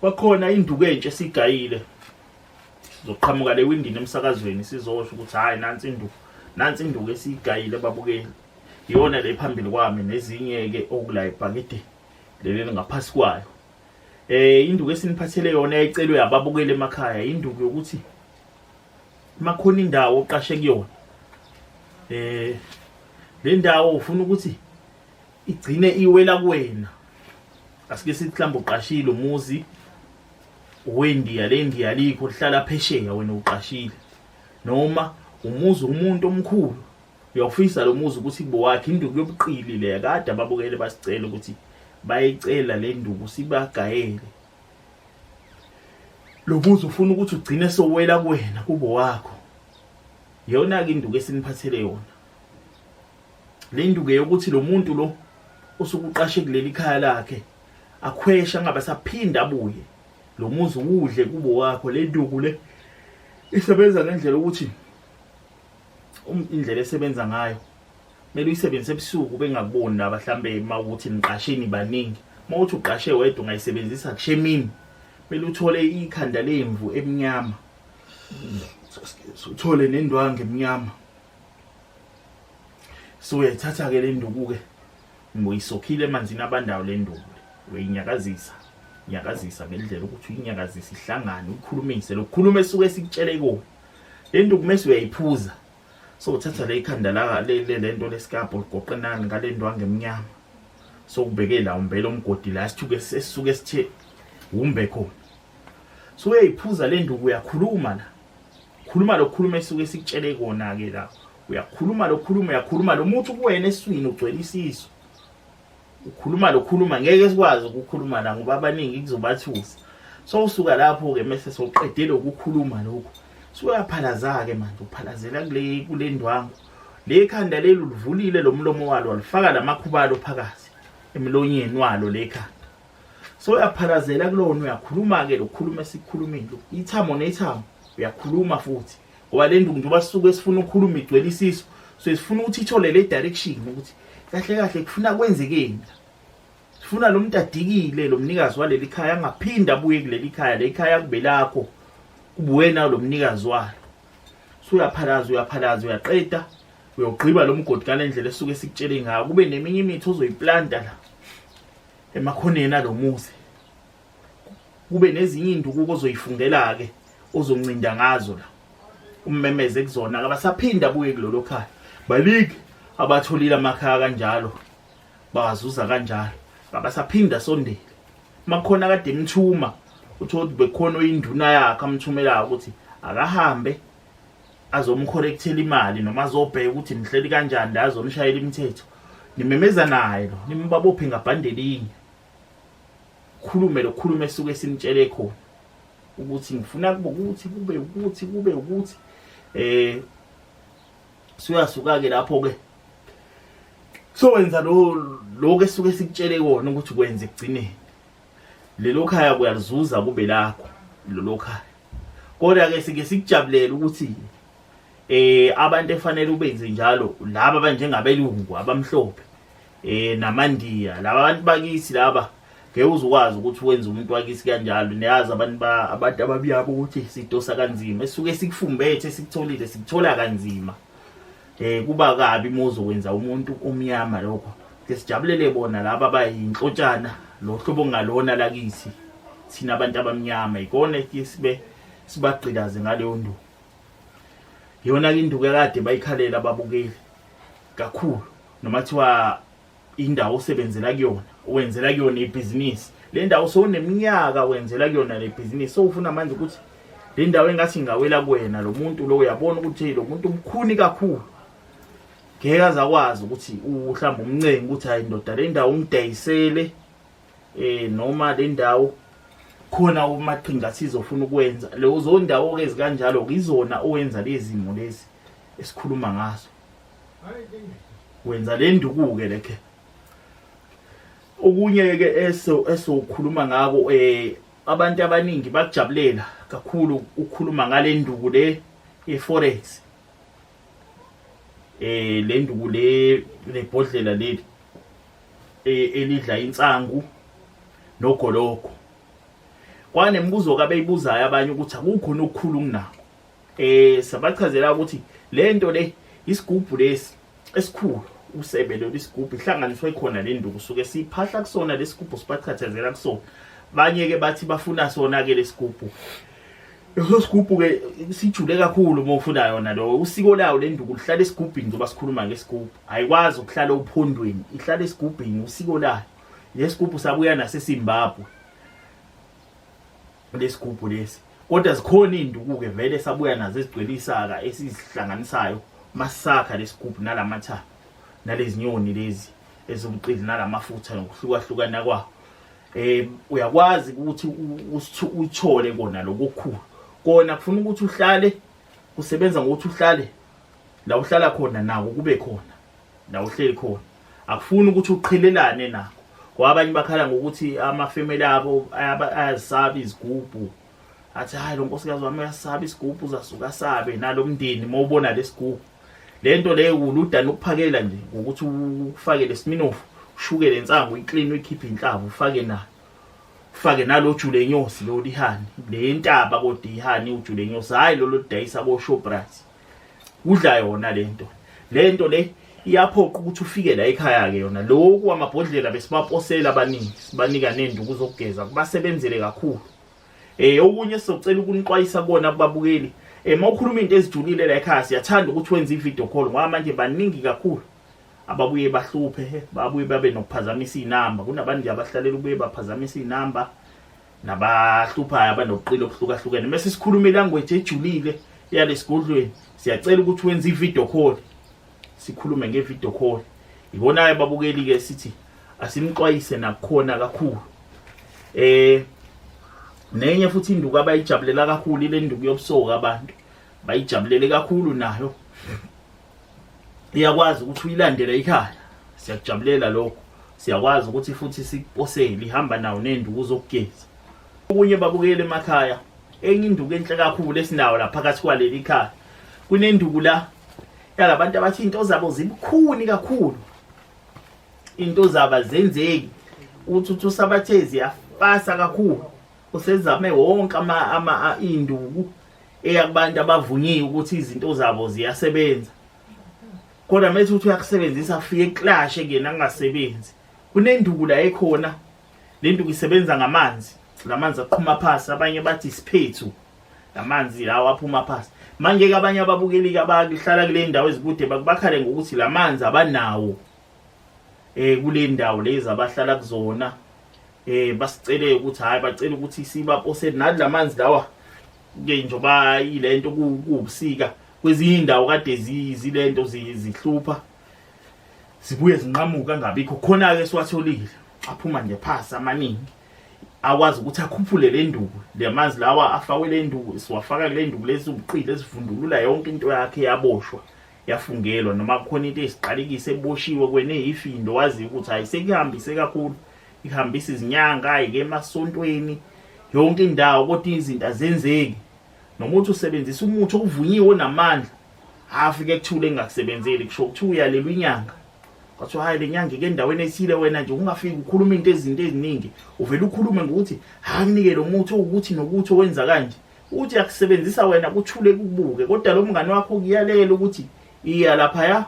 kwakhona induku entsha esigayile sizoqhamuka le windini emsakazweni sizosho ukuthi hayi nansi induku nansi induku esigayile babukeli iyona le phambili kwami nezinye ke okula ibhakede leli ngaphasi kwayo eh induku esiniphathele yona ecelwe ababukeli emakhaya induku yokuthi makhona indawo oqashe kuyona eh le ndawo ufuna ukuthi igcine iwela kuwena asike sithi mhlawumbe uqashile umuzi wendiya le ndiya likho lihlala phesheya wena uqashile noma umuzi umuntu omkhulu uyawufisa lo muzi ukuthi bowakhe induku yobuqili le kade ababukele basicela ukuthi bayicela le nduku sibagayele lo muzi ufuna ukuthi ugcine sowela kuwena kubo wakho yona ke induku esiniphathele yona le nduke yokuthi lo muntu lo osukuqashe kuleli khaya lakhe akhwesha angabe saphinda abuye lo muzi udle kubo wakho le nduku le isebenza ngendlela ukuthi um, indlela esebenza ngayo kumele uyisebenzise ebusuku bengakuboni laba mhlambe uma ukuthi niqasheni baningi uma uthi uqashe wedwa ungayisebenzisa kushe emini kumele uthole ikhanda lemvu emnyama uthole nendwangu emnyama so uyayithatha ke le nduku ke ngoyisokhile emanzini abandayo le nduku uyayinyakazisa nyakazisa ngendlela ukuthi uyinyakazisa ihlangane ukhulumise lokukhuluma esuke sikutshele ikona le nduku mese uyayiphuza so uthatha le ikhanda la le le nto lesikabho ligoqenani ngale nto angemnyama so ubeke la umbele umgodi la sithuke sesuke sithe wumbe khona so uyayiphuza le nduku uyakhuluma la khuluma lokhuluma esuke sikutshele kona ke la uyakhuluma lokhuluma uyakhuluma lo muthi kuwena eswini ugcwele isisu ukhuluma lokhuluma ngeke sikwazi ukukhuluma la ngoba abaningi kuzobathusa so usuka lapho ke mase soqedele ukukhuluma lokho suyaphalaza ke manje uphalazela kule kule ndwangu le khanda leli ulivulile lo mlomo walo walifaka lamakhubalo phakathi emlonyeni walo le khanda so uyaphalazela kulona uyakhuluma-ke lokukhuluma esikhulumile ithamo nethamo uyakhuluma futhi ngoba le nduku njengoba sisuke sifuna ukukhuluma igcwele isiso so sifuna ukuthi ithole le direction ukuthi kahle kahle kufuna kwenzekeni sifuna lo muntu adikile lo mnikazi waleli khaya angaphinde abuye kuleli khaya le khaya kube lakho kubuwena lo mnikazi walo so uyaphalaza uyaphalaza uyaqeda uyogqiba lo mgodi ngale ndlela esuke sikutshele ngayo kube neminye imithi ozoyiplanta la emakhoneni alomuzi kube nezinye induku ozoyifungela ke ozoncinda ngazo la ummemeze kuzona abasaphinda buye kulolo khaya balike abatholile amakhaya kanjalo bazuza kanjalo abasaphinda sondele makhona kade imthuma uthola ukuthi bekhona oyinduna yakhe amthumela ukuthi akahambe azomcorrectela imali noma azobheka ukuthi nihleli kanjani la azonishayela imithetho nimemeza naye lo nimbabophe ngabhandelinye khulume lo khulume esuke simtshele khona ukuthi ngifuna kube ukuthi kube ukuthi kube ukuthi eh suyasuka ke lapho ke sowenza lo lokho esuke sikutshele kona ukuthi kwenze ekugcineni lelo khaya kuyalizuza kube lakho lelo khaya kodwa ke sike sikujabulele ukuthi eh abantu efanele ubenze njalo laba banjengabelungu abamhlophe eh namandiya laba bantu bakithi laba ngeke uzukwazi ukuthi wenze umuntu wakisi kanjalo niyazi abantu abantu ababiyabo ukuthi sidosa kanzima esuke sikufumbethe sikutholile sikuthola kanzima eh kuba kabi muzo wenza umuntu omnyama lokho ke sijabulele bona laba abayinhlotshana lo hlobo ngalona lakithi thina abantu abamnyama ikona ke sibe sibagqilaze ngaleyo nduku yona ke induku ekade bayikhalela ababukeli kakhulu noma kuthiwa indawo osebenzela kuyona wenzela kuyona ibhizinisi le ndawo sowuneminyaka wenzela kuyona le bhizinisi sowufuna manje ukuthi le ndawo engathi ngingawela kuwena lo muntu lo uyabona ukuthi lo muntu umkhuni kakhulu ngeke aze akwazi ukuthi uhlamba umncengi ukuthi hayi ndoda le ndawo ungidayisele um noma le ndawo khona umaqhinga athize ofuna ukwenza lezo ndawo-ke zikanjalo-ke izona owenza lezi zimo lezi esikhuluma ngazo wenza le ndukuke lekhe okunye ke eso esokhuluma ngako eh abantu abaningi bakujabulela kakhulu ukukhuluma ngale nduku le eforex eh le nduku le lebhodlela leli e, elidla insangu nogoloko kwanemibuzo kabeyibuzayo abanye ukuthi akukho nokukhulu kunako eh sabachazela ukuthi le nto le isigubhu lesi esikhulu usebe lolu isigubhu ihlanganiswe khona le nduku suke siphahla kusona lesigubhu sibachathazela kusona banye ke bathi bafuna sona ke lesigubhu leso sigubhu ke sijule kakhulu uma ufuna yona lo usiko lawo le nduku lihlala esigubhini njengoba sikhuluma ngesigubhu ayikwazi ukuhlala uphondweni ihlala esigubhini usiko layo lesigubhu sabuya naseSimbabwe lesigubhu lesi kodwa zikhona izinduku-ke vele sabuya nazo ezigcwele isaka esizihlanganisayo masakha lesigubhu nalamathayo nalezinyoni lezi ezibuqili nalamafutha nokuhlukahlukana kwawo eh uyakwazi ukuthi uthole kona lokukhulu kona kufuna ukuthi uhlale usebenza ngokuthi uhlale la uhlala khona nawo kube khona na uhleli khona akufuni ukuthi uqhelelane nakho ngoba abanye bakhala ngokuthi amafemeli abo ayazisabi izigubhu athi hayi lo nkosikazi wami uyasaba isigubhu uzasuka asabe nalo mndeni uma ubona lesigubhu le nto leyo uludani ukuphakela nje ngokuthi ufake lesiminofu ushukele insangu uyiklini uyikhiphe inhlaba ufake nayo ufake nalo jule inyosi lo lihani le ntaba kodwa ihani ujule inyosi hhayi lolo lidayisa ko-shoprite udla yona lento lento le iyaphoqa ukuthi ufike la ekhaya ke yona lokhu amabhodlela besibaposela abaningi sibanika nenduku zokugeza kubasebenzele kakhulu eh okunye sizocela ukunixwayisa kona kubabukeli eh mawukhuluma into ezijulile la ekhaya siyathanda ukuthi wenze ivideo call ngoba manje baningi kakhulu ababuye bahluphe babuye babe nokuphazamisa izinamba kunabantu abahlalela ubuye baphazamisa izinamba nabahluphayo abanobuqili obuhlukahlukene mese sikhuluma ilanguage ejulile yalesigodlweni siyacela ukuthi wenze ivideo call sikhulume ngevideo call ibonayo babukeli ke sithi asimxwayise nakukhona kakhulu eh nenye futhi induku abayijabulela kakhulu ile nduku yobusoka abantu bayijabulele kakhulu nayo iyakwazi ukuthi uyilandele ikhaya siyakujabulela lokho siyakwazi ukuthi futhi sikuposele ihamba nawo nenduku zokugeza okunye babukele emakhaya enye induku enhle kakhulu esinawo la phakathi kwaleli khaya kunenduku la yalabantu abathi into zabo zibukhuni kakhulu into zaba zenzeki uthi uthi usabathezi yafasa kakhulu usezame wonke ama ama induku eyabantu abavunyiwe ukuthi izinto zabo ziyasebenza kodwa mase uthi uyakusebenzisa afike eclashe kuyena kungasebenzi kunenduku la ekhona le nduku isebenza ngamanzi lamanzi aqhuma phansi abanye bathi isiphethu lamanzi lawo aphuma phansi manje ke abanye ababukeliki abahlala kule ndawo ezikude bakubakhale ngokuthi lamanzi abanawo eh kule ndawo lezi abahlala kuzona eh basicele ukuthi hayi bacela ukuthi sibapose nathi lamanzi lawa ke njoba ilento kubusika kwezinye indawo kade zilento zihlupha zibuye zinqamuka ngabikho khona ke siwatholile aphuma nje phasi amaningi akwazi ukuthi akhuphule le nduku lemanzi lawa afakwe le nduku siwafaka kule nduku lezi ubuqili ezivundulula yonke into yakhe yaboshwa yafungelwa noma kukhona into esiqalekise eboshiwe kwene yifindo wazi ukuthi hayi sekuyihambise kakhulu ihambisa izinyanga ayike emasontweni yonke indawo kodwa izinto azenzeki noma uthi usebenzisa umuthi okuvunyiwe namandla afike kuthule engakusebenzeli kusho ukuthi uyalelwa inyanga kwathiwa hayi le nyanga ike endaweni ethile wena nje ungafiki ukhuluma into ezinto eziningi uvele ukhulume ngokuthi hakunike lo muthi owukuthi nokuthi owenza kanje uthi akusebenzisa wena kuthule kubuke kodwa lo mngane wakho kuyalela ukuthi iya lapha ya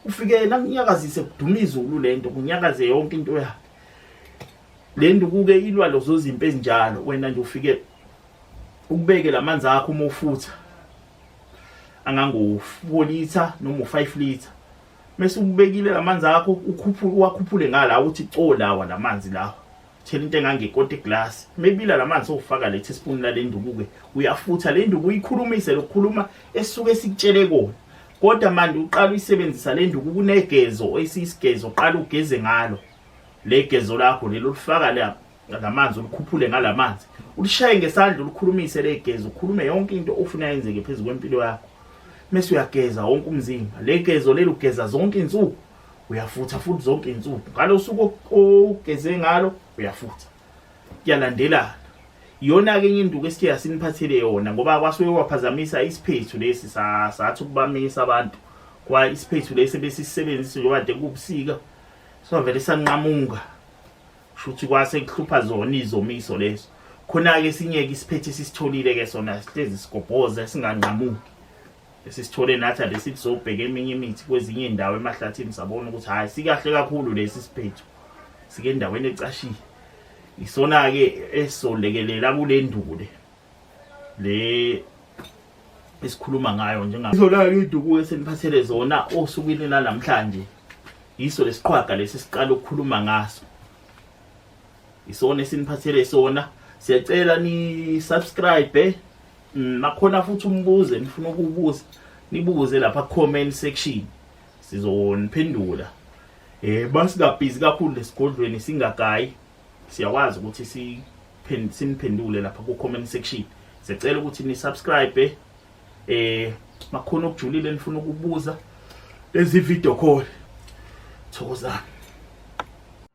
ufike yena kunyakazise kuduma izulu le nto kunyakaze yonke into yakhe le nto kuke ilwa lozo zimpi ezinjalo wena nje ufike ukubeke la manzi akho uma ufutha angango-four litha noma u-five litha mese ubekile la manzi akho ukhuphule uwakhuphule ngala uthi co lawa la manzi lawa Thela into engangekoti glass. Mebila lamanzi owufaka le teaspoon lale nduku ke. Uyafutha le nduku uyikhulumise lokukhuluma esuke sikutshele kona. Kodwa manje uqala uyisebenzisa le nduku kunegezo oyisisigezo qala ugeze ngalo. Le gezo lakho lelo lifaka lapha lamanzi ulikhuphule ngalamanzi ulishaye ngesandla ulikhulumise legeza ukhulume yonke into ofuna yenzeke phezulu kwempilo yakho mese uyageza wonke umzimba legezo leli ugeza zonke insuku uyafutha futhi zonke izinsuku ngalo suku ogeze ngalo uyafutha kuyalandelana iyona ke enye induku esithe asiniphathele yona ngoba kwasuke kwaphazamisa isiphethu lesi sathi ukubamisa abantu kwa isiphethu lesi besisebenzisa njengoba de kubusika sovele sanqamuka shuthi kwase kuhlupha zona izomiso leso khona ke sinyeke isiphethe sisitholile ke sona sihlezi sigobhoza singanqamuki esisithole nathi ade sithi sobheka eminye imithi kwezinye iy'ndawo emahlathini sabona ukuthi hhayi sikahle kakhulu lesi siphetho sike endaweni ecashile isona-ke esizolekelela kule ndule le esikhuluma ngayo njengazolala induku eseniphathele zona osukwini lanamhlanje yiso lesiqhwaga lesi siqala ukukhuluma ngaso isona esiniphathele sona siyacela ni subscribe eh? mm, nakhona futhi umbuze nifuna ukubuza nibuze lapha comment section sizoniphendula eh basingabhizi kakhulu lesigodlweni singagayi siyakwazi ukuthi si siniphendule lapha ku comment section sicela ukuthi ni subscribe eh, eh makhona okujulile nifuna ukubuza lezi video call thokozani